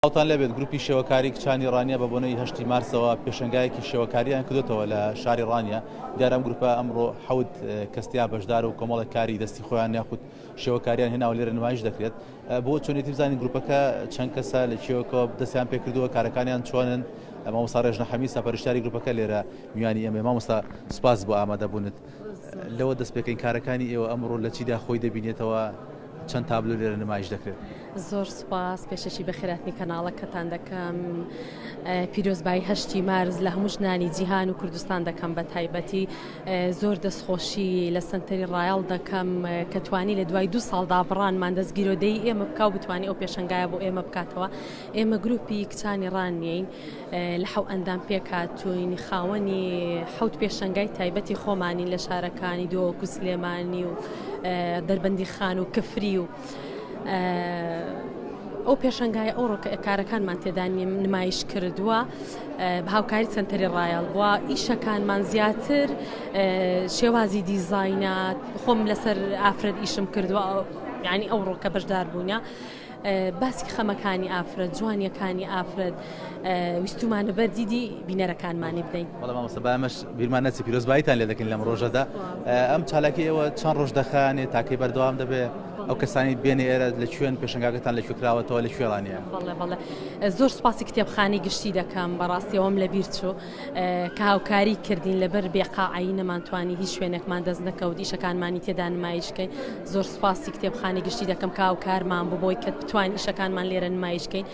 سڵاوتان لێ بێت، گروپی شێوەکاری کچانی ڕانیە بە بۆنەی هەشتی مارسەوە پێشەنگایەکی شێوەکارییان کردۆتەوە لە شاری ڕانیە، دیارە ئەم گروپە ئەمڕۆ حەوت کەس تیا بەشدارە و کۆمەڵێک کاری دەستی خۆیان یاخود شێوەکاریان هێناوە لێرە نمایش دەکرێت، بۆ چۆنێتی بزانین گروپەکە چەند کەسە لە کێوەکەوە دەستیان پێکردووە کارەکانیان چۆنن، مامۆستا ڕێژنە حەمید سەپەرشتیاری گروپەکە لێرە میوانی ئێمەیە، مامۆستا سپاس بۆ ئامادەبوونت لەوە دەست پێکەین کارەکانی ئێوە ئەمڕۆ لە چیدا خۆی دەبینێتەوە چەند تابلۆ لێرە نمایش دەکرێت؟ زۆر سوپاس پێشەکی بە خێراتنی کەناڵەکەتان دەکەم پیرۆزبایی هەشتی مارز لە هەموو ژنانی جیهان و کوردستان دەکەم بە تایبەتی زۆر دەستخۆشی لە سنتەری ڕایال دەکەم کە توانی لە دوای دو ساڵدا بڕانمان دەستگیرۆدەی ئێمە بکە و بتوانانی ئەو پێشنگایە بۆ ئێمە بکاتەوە ئێمە گروپی کچانی ڕانیین لە حەو ئەندام پێکاتوین خاوەنی حوت پێشنگای تایبەتی خۆمانین لە شارەکانی دۆکو سلێمانی و دەربەندی خان و کفری و ئەو پێشنگای ئەو ڕۆکارەکانمان تێدا نمایش کردووە هاوکاری سنتەری ڕایال بووە ئیشەکانمان زیاتر شێوازی دیزینات خۆم لەسەر ئافرەت ئیشم کردووە ینی ئەو ڕۆکە بەشدار بوونە. باسی خەمەکانی ئافرەت جوانیەکانی ئافرەت ویستومانە بەردیدی بینەرەکانمانی بدەین بەڵامەوەسە بامەش بیرمان نەچێت پیرۆزباییتان لێ دەکەین لەم ڕۆژەدا ئەم چالاکی ئێوە چەند ڕۆژ دەخایەنێت تاکەی بەردەوام دەبێت ئەو کەسانی بێنێ ئێرە لە کوێن پێشنگاکەتان لە کوێکراوەتەوە لە کوێڕانە زۆر سپاسی کتێبخانی گشتی دەکەم بەڕاستیەوەم لە بیر چوو کە هاوکاری کردین لەبەر بێقاعی نەمانتوانی هیچ شوێنێکمان دەست نەکەوت ئیشەکانمانی تێدا نمایشکەین زۆر سپاسی کتێبخانی گشتی دەکەم کە هاوکارمان بوو بۆی کە بتوانین ئیشەکانمان لێرە نمایشکەین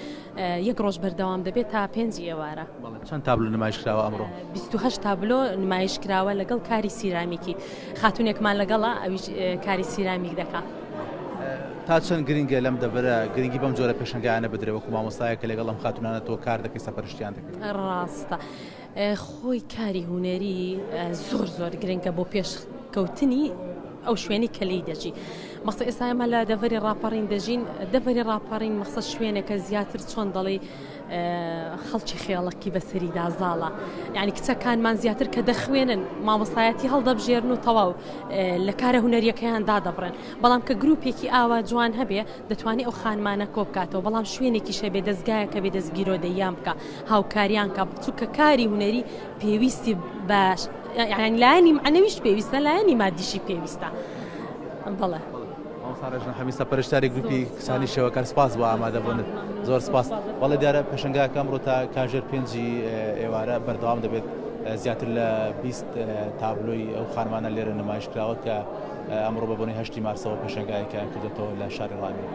یەک ڕۆژ بەردەوام دەبێت تا پێنجی ئێوارە. چەند تابلۆ نمایشکراوە ئەمڕۆ؟ بیست و هەشت تابلۆ نمایشکراوە لەگەڵ کاری سیرامیکی خاتونێکمان لەگەڵە ئەویش کاری سیرامیک دەکات. تا چەند گرنگە لەم دەڤەرە گرنگی بەم جۆرە پێشەنگایانە بدرێ وەکو مامۆستایە کە لەگەڵ ئەم خاتونانە تۆ کار دەکەی سەپەرشتیان دەکەی ڕاستە خۆی کاری هوەری زۆر زۆر گرنگە بۆ پێش کەوتنی ئەو شوێنی کە لی دەژی مەخصە ئێستا ئێمە لە دەڤری ڕاپەڕین دەژین دەڤری ڕاپەڕین مەخصە شوێنەکە زیاتر چۆن دەڵی خەڵکی خێڵەکی بەسەریدا زاڵە یعنی کچەکانمان زیاتر کە دەخوێنن مامۆستایەتی هەڵدەبژێرن و تەواو لە کارە هوەریەکەیان دادەبڕێن بەڵام کە گرروپێکی ئاوا جوان هەبێ دەتوانێت ئەو خانمانە کۆبکاتەوە بەڵام شوێنێکی شەبێ دەستگایە کە بێ دەستگیرۆدەیان بکە هاوکاریان کە بچووکە کاری هوەری پێویستی باش یعنی لایانی معنەویش پێویستە لایانی مادیشی پێویستە بەڵێ. مامۆستا ڕێژنە حەمید سەپەرشتاری گروپی کچانی شێوەکار سپاس بۆ ئامادەبوونت زۆر سپاس بەڵێ دیارە پێشنگاکە ئەمڕۆ تا کاژێر پێنجی ئێوارە بەردەوام دەبێت زیاتر لە بیست تابلۆی ئەو خانمانە لێرە نمایش کراوە کە ئەمڕۆ بە بۆنەی هەشتی مارسەوە پێشنگایەکیان کردێتەوە لە شاری ڕانیە